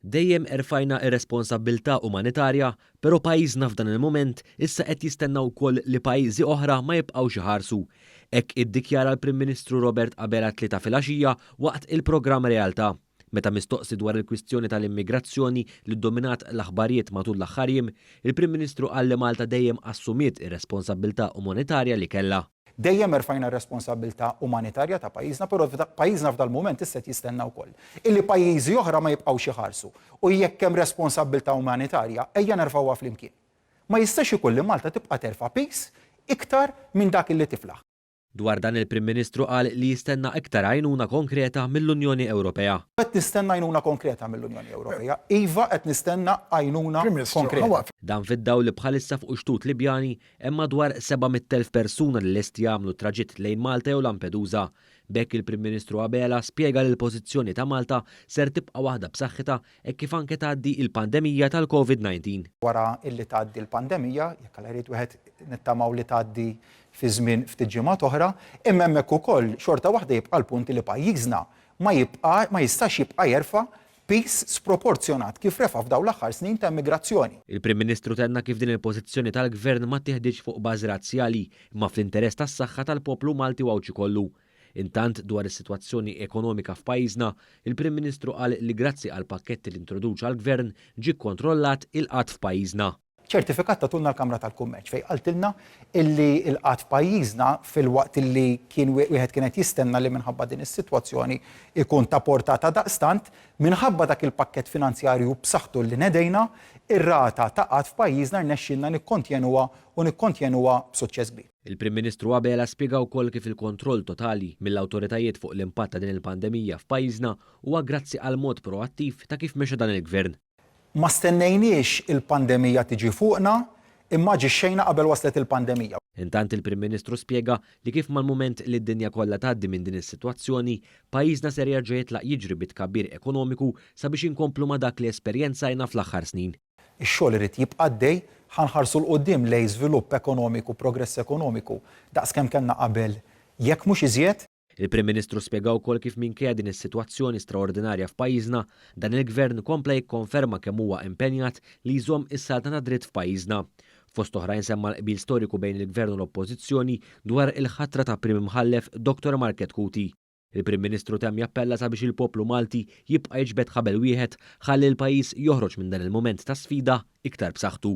Dejjem erfajna r-responsabbiltà umanitarja, però pajjiżna f'dan il-mument issa qed jistenna wkoll li pajjiżi oħra ma jibqgħux iħarsu. Hekk iddikjara l-Prim Ministru Robert Abela t-Tlieta filgħaxija waqt il-programm Realtà. Meta mistoqsi dwar il-kwistjoni tal-immigrazzjoni li ddominat l-aħbarijiet matul l-aħħar jiem, il-Prim Ministru qal li Malta dejjem assumiet ir-responsabbiltà umanitarja li kellha. Dejjem erfajna r-responsabbiltà umanitarja ta' pajjiżna, però pajjiżna f'dal-mument issa qed jistenna wkoll illi pajjiżi oħra ma jibqgħux iħarsu. U jekk hemm responsabbiltà umanitarja, ejja nerfgħuha flimkien. Ma jistax ikun li Malta tibqa' terfa' piż iktar minn dak illi tiflaħ. Dwar dan il-Prim Ministru qal li jistenna iktar għajnuna konkreta mill-Unjoni Ewropea. Qed nistenna għajnuna konkreta mill-Unjoni Ewropea. Iva, qed nistenna għajnuna konkreta. Dan fid-dawl li bħalissa fuq ix-xtut Libjani Hemm madwar 700,000 persuna li lesti jagħmlu t-traġitt lejn Malta jew Lampedusa. B'hekk il-Prim Ministru Abela spjega li l-pożizzjoni ta' Malta ser tibqa' waħda b'saħħitha hekk kif anke tgħaddi il-pandemija tal-Covid 19. Wara illi tgħaddi l-pandemija, jekk Alla jrid wieħed nittamaw li tgħaddi fi żmien ftit ġimgħat oħra, imma hemmhekk ukoll xorta waħda jibqa' l-punt li pajjiżna ma jibqa' ma jistax jibqa' jerfa' piż sproporzjonat kif refa' f'dawn l-aħħar snin ta' immigrazzjoni. Il-Prim Ministru tenna kif din il-pożizzjoni tal-Gvern ma ttiħditx fuq bażi razzjali imma fl-interess tas-saħħa tal-poplu Malti u Għawdxi kollu. Intant, dwar is-sitwazzjoni ekonomika f'pajjiżna, il-Prim Ministru qal li grazzi għall-pakketti li introduċa l-Gvern ġie kkontrollat il-qgħad f'pajjiżna. Ċertifikat tatulna l-Kamra tal-Kummerċ fejn qaltilna illi l-qgħad f'pajjiżna filwaqt illi kien wieħed kien qed jistenna li minħabba din is-sitwazzjoni jkun ta' portata daqstant, minħabba dak il-pakkett finanzjarju b'saħħtu li nedejna, ir-rata ta' qgħad f'pajjiżna rnexxielna nikkontjenuha u nikkontjenuha b'suċċess kbir. Il-Prim Ministru Abela spjega wkoll kif il-kontroll totali mill-awtoritajiet fuq l-impatt ta' din il-pandemija f'pajjiżna huwa grazzi għall-mod proattiv ta' kif mexa dan il-Gvern. Ma stennejniex il-pandemija tiġi fuqna, imma aġixxejna qabel waslet il-pandemija. Intant il-Prim Ministru spjega li kif mal-mument li d-dinja kollha tgħaddi minn din is-sitwazzjoni, pajjiżna ser jerġa' jitlaq jiġri bi tkabbir ekonomiku sabiex inkomplu ma' dak li esperjenzajna fl-aħħar snin. Ix-xogħol irid jibqa' għaddej, ħa nħarsu 'l quddiem lejn żvilupp ekonomiku, progress ekonomiku daqs kemm kellna qabel jekk mhux iżjed. Il-Prim Ministru spjega wkoll kif minkejja din is-sitwazzjoni straordinarja f'pajjiżna, dan il-Gvern kompla jikkonferma kemm huwa impenjat li jżomm is-saltna tad-dritt f'pajjiżna. Fost oħrajn semma l-qbil storiku bejn il-Gvern u l-Oppożizzjoni dwar il-ħatra ta' Prim Imħallef Dottor Market Cuti. Il-Prim Ministru temm jappella sabiex il-poplu Malti jibqa' jiġbed ħabel wieħed ħalli l-pajjiż joħroġ minn dan il-mument ta' sfida iktar b'saħħtu.